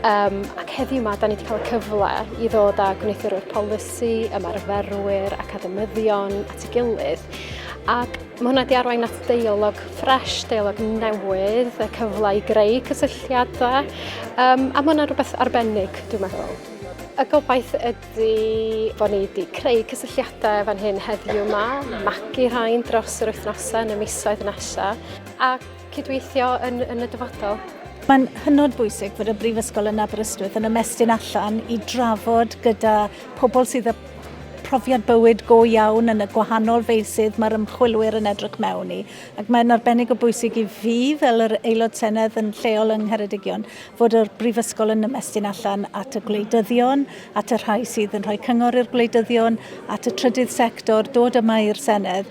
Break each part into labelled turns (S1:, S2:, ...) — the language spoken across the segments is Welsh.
S1: Um, ac heddiw yma, da ni wedi cael y cyfle i ddod â gwneuthurwyr polisi, ymarferwyr, academyddion at ei gilydd. Ac mae hwnna wedi arwain at deialog ffres, deialog newydd, y cyfle i greu cysylltiadau. Um, a mae hwnna rhywbeth arbennig, dwi'n meddwl. Y gobaith ydy bod ni wedi creu cysylltiadau fan hyn heddiw yma, magu rhain dros yr wythnosau yn y misoedd nesaf. Ac cydweithio yn, yn y dyfodol. Mae'n hynod
S2: bwysig bod y Brifysgol yn Aberystwyth yn ymestyn allan i drafod gyda pobl sydd â profiad bywyd go iawn yn y gwahanol feysydd mae'r ymchwilwyr yn edrych mewn i. Ac mae'n arbennig o bwysig i fi fel yr aelod senedd yn lleol yng Ngheredigion fod yr brifysgol yn ymestyn allan at y gwleidyddion, at y rhai sydd yn rhoi cyngor i'r gwleidyddion, at y trydydd sector, dod yma i'r senedd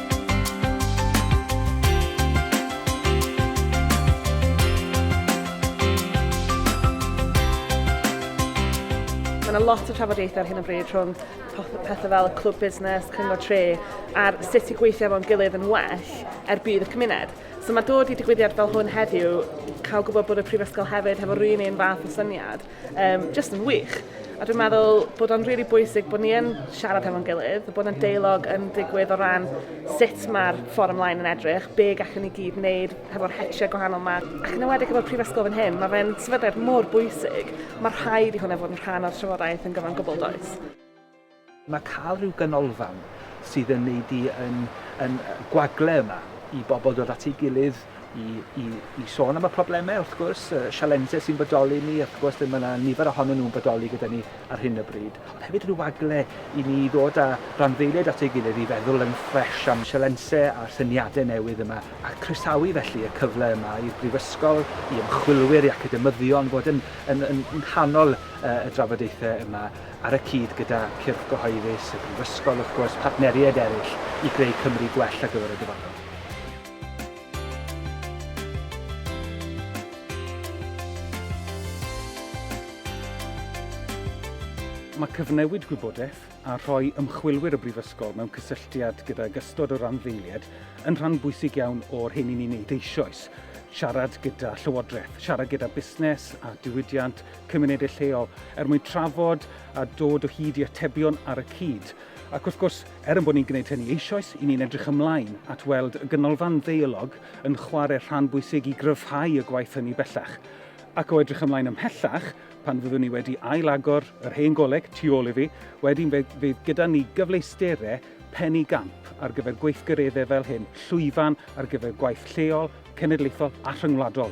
S3: Mae yna lot o trafodaethau ar hyn o bryd rhwng pethau fel y clwb busnes, cyngor tre, a'r sut i gweithio efo'n gilydd yn well er bydd y cymuned. So mae dod i digwyddiad fel hwn heddiw, cael gwybod bod y Prifysgol hefyd hefo rhywun un fath o syniad, Um, just yn wych. A dwi'n meddwl bod o'n rili really bwysig bod ni yn siarad hefo'n gilydd, bod yna deilog yn digwydd o ran sut mae'r fforwm lain yn edrych, be gallwn ni gyd wneud hefo'r hetiau gwahanol yma. Ac yn ymwedig efo'r prifysgol fan hyn, mae fe'n sefydliad mor bwysig, mae rhaid i hwnna fod yn rhan o'r trafodaeth yn gyfan gwbl does. Mae
S4: cael rhyw ganolfan sydd yn ei di yn yn gwagle yma i bobl dod at ei gilydd i i i sôn am y problemau wrth gwrs, y sialensau sy'n bodoli ni wrth gwrs lle mae yna nifer ohonyn nhw'n bodoli gyda ni ar hyn o bryd, ond hefyd rhyw wagle i ni ddod â rhanddeiliaid at ei gilydd i feddwl yn ffresh am sialensau a'r syniadau newydd yma a croesawu felly y cyfle yma i'r Brifysgol, i ymchwilwyr, i academyddion fod yn yn yn nghanol y drafodaethau yma. ar y cyd gyda cyrff gyhoeddus, y Brifysgol wrth gwrs, partneriaid eraill i greu Cymru gwell ar gyfer y dyfodol.
S5: Mae cyfnewid gwybodaeth a rhoi ymchwilwyr y Brifysgol mewn cysylltiad gydag ystod o randdeiliaid yn rhan bwysig iawn o'r hyn i ni'n wneud eisoes, siarad gyda llywodraeth, siarad gyda busnes a diwydiant, cymunedau lleol er mwyn trafod a dod o hyd i atebion ar y cyd. Ac wrth gwrs, er yn bod ni'n gwneud hynny eisoes, i ni'n edrych ymlaen at weld y Ganolfan Ddeialog yn chwarae rhan bwysig i gryfhau y gwaith hynny bellach. Ac o edrych ymlaen ymhellach, pan fyddwn ni wedi ail-agor yr hen goleg tu ôl i fi, wedyn fe fydd gyda ni gyfleusterau pen i gamp ar gyfer gweithgareddau fel hyn, llwyfan ar gyfer gwaith lleol, cenedlaethol a rhyngwladol.